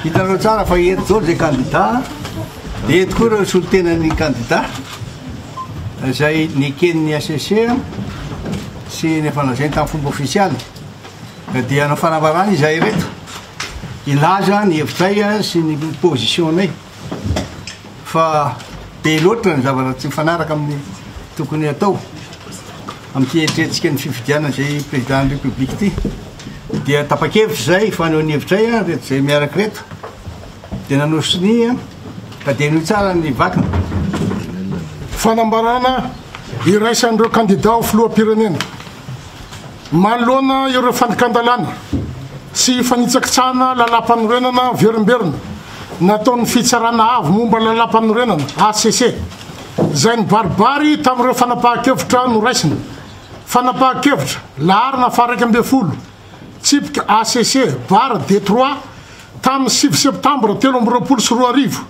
Hitanareo tsara fa eto izao izay kandida dia eto koa ireo solontenan'ny kandida izay neken'ny HCC sy nefa lazainy tamin'ny fomba ofisialy ka dia hanao fanambarana izahay ireto hilaza ny hevitray sy ny position-nay. fa be loatra ny zavatra tsy mifanaraka amin'ny tokony hatao amin'ny fieritrerentsika ny fifidianana izay président république ity dia tapa-kevitra izay fanehoan'ny hevitray a reto izay miaraka reto dia nanao sonia ka dia noho tsara ny vakina fanambarana iraisan'ireo kandida ho filoham-pirenena manoloana ireo fandikan-dalàna sy fanitsakitsahana lalàmpanorenana verimberina nataon'ny Fitsarana Avo momba ny Lalàmpanorenana, hcc, izay nibaribary tamin'ireo fanapahan-kevitra noraisina. Fanapahan-kevitra, laharana faha-iraika ambin'ny folo, tsipika hcc, barra, Detroit, tamin'ny sivy Septambra telo amby roapolo sy roa arivo,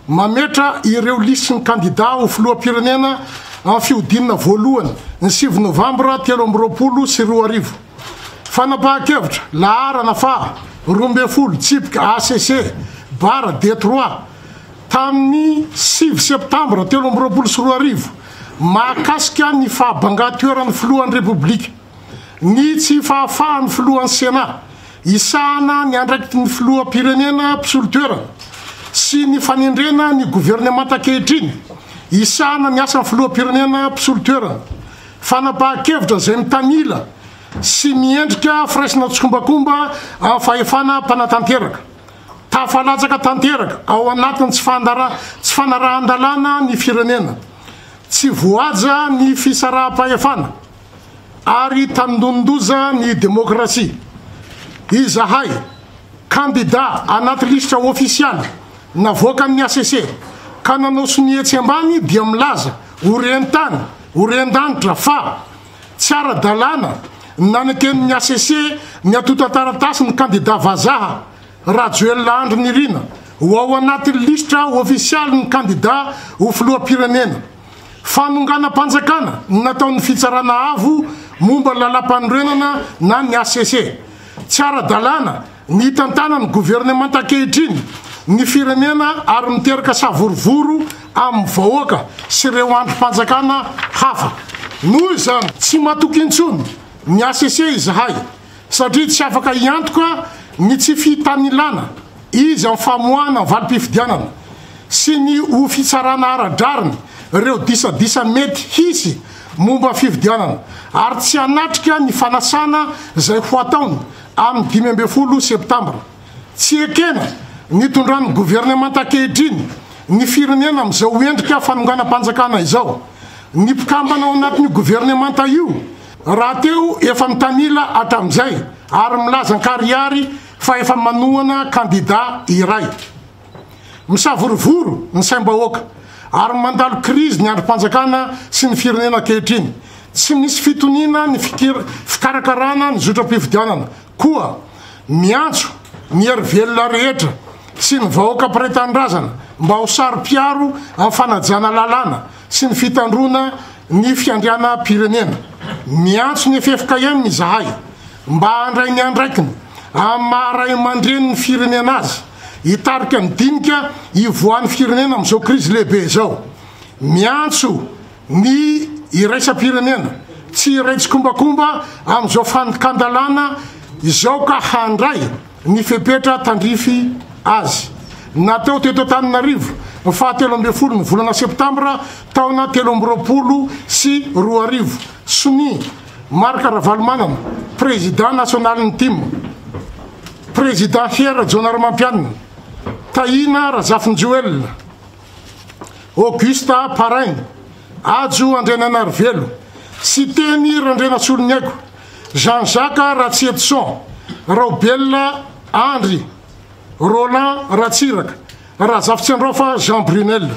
mametra ireo lisin'ny kandidà ho filoham-pirenena amin'ny fihodinana voalohany, ny sivy Novambra telo amby roapolo sy roa arivo. Fanapahan-kevitra, laharana faha roa ambin'ny folo, tsipika ACC, bara Detroit, tamin'ny sivy Septambra telo amby roapolo sy roa arivo, mahakasika ny fahabangan-toeran'ny Filohan'ny Repoblika, ny tsy fahafahan'ny Filohan'ny Senat hisahana ny andraikitry ny Filoham-pirenena mpisolo toerana sy ny fanendrena ny governemanta ankehitriny hisahana ny asan'ny Filoham-pirenena mpisolo toerana Fanapahan-kevitra izay mitanila sy miendrika firaisana tsikombakomba amin'ny fahefana mpanatanteraka. Tafalatsaka tanteraka ao anatin'ny tsy tsy fanarahan-dalàna ny firenena. Tsy voahaja ny fisaraham-pahefana ary tandindonin-doza ny demokrasia. Izahay, kandida anaty lisitra ofisialy navoakan'ny hcc ka nanao sonia etsy ambany dia milaza Ho ren-tany, ho ren-danitra fa, tsy ara-dalàna ny naneken' ny hcc ny antontan-taratasy ny kandidà vazaha, Rajoelina Andry Nirina, ho ao anatin' ny lisitra ôfisialin' ny kandidà ho filoham-pirenena. Fanonganam-panjakana ny nataon' ny Fitsarana Avo momba ny Lalàmpanorenana na ny hcc. Tsy ara-dalàna Nitantana ny governemanta ankehitriny ny firenena ary miteraka savorovoro amin'ny vahoaka sy ireo andrim-panjakana hafa. Noho izany, tsy matoky intsony ny HCC izahay satria tsy afaka hiantoka ny tsy fihitanilana izy amin'ny famoahana ny valim-pifidianana sy ny ho fitsarana ara-drariny ireo disadisa mety hisy momba fifidianana ary tsy hanatrika ny fanasana izay ho ataony amin'ny dimy ambin'ny folo septambra. Tsy ekena ny itondran'ny governemanta ankehitriny ny firenena amin'izao endrika fanonganam-panjakana izao. Ny mpikambana ao anatin'io governemanta io rahateo efa mitanila hatramin'izay ary milaza an-karihary fa efa manohana kandida iray. Misavorovoro ny saim-bahoaka ary mandalo krizy ny andrim-panjakana sy ny firenena ankehitriny. Tsy misy fitoniana ny fikarakarana ny zotram-pifidianana koa. Miantso ny hery velona rehetra sy ny vahoaka mpiray tanindrazana mba ho saro-piaro amin'ny fanajana lalàna sy ny fitandroana ny fiandrianam-pirenena. Miantso ny ffkm izahay mba handray ny andraikiny amin'ny maha-raiamandrenin'ny firenena azy. Hitarika ny dinika hivoahan'ny firenena amin'izao krizy lehibe izao. Miantso ny iraisam-pirenena tsy hiray tsikombakomba amin'izao fandikan-dalàna izao ka handray ny fepetra tandrify azy. Natao teto Antananarivo ny faha telo ambin'ny folo ny volana septambra taona telo amby roapolo sy roa arivo, sonia Marc Ravalomanana, prezidà nasionalin'ny tim. Prezidà Fier Rajaonarimampianina, Tahiana Razafinjoelina, Augusta Paraigny, Hajo Andriananarivelo, Siteny Randrianasoloniaiko, Jean Jacques Ratsietison, Raobelina Andry, Roland Ratsiraka, Razafitsiandraofa Jean Brunel.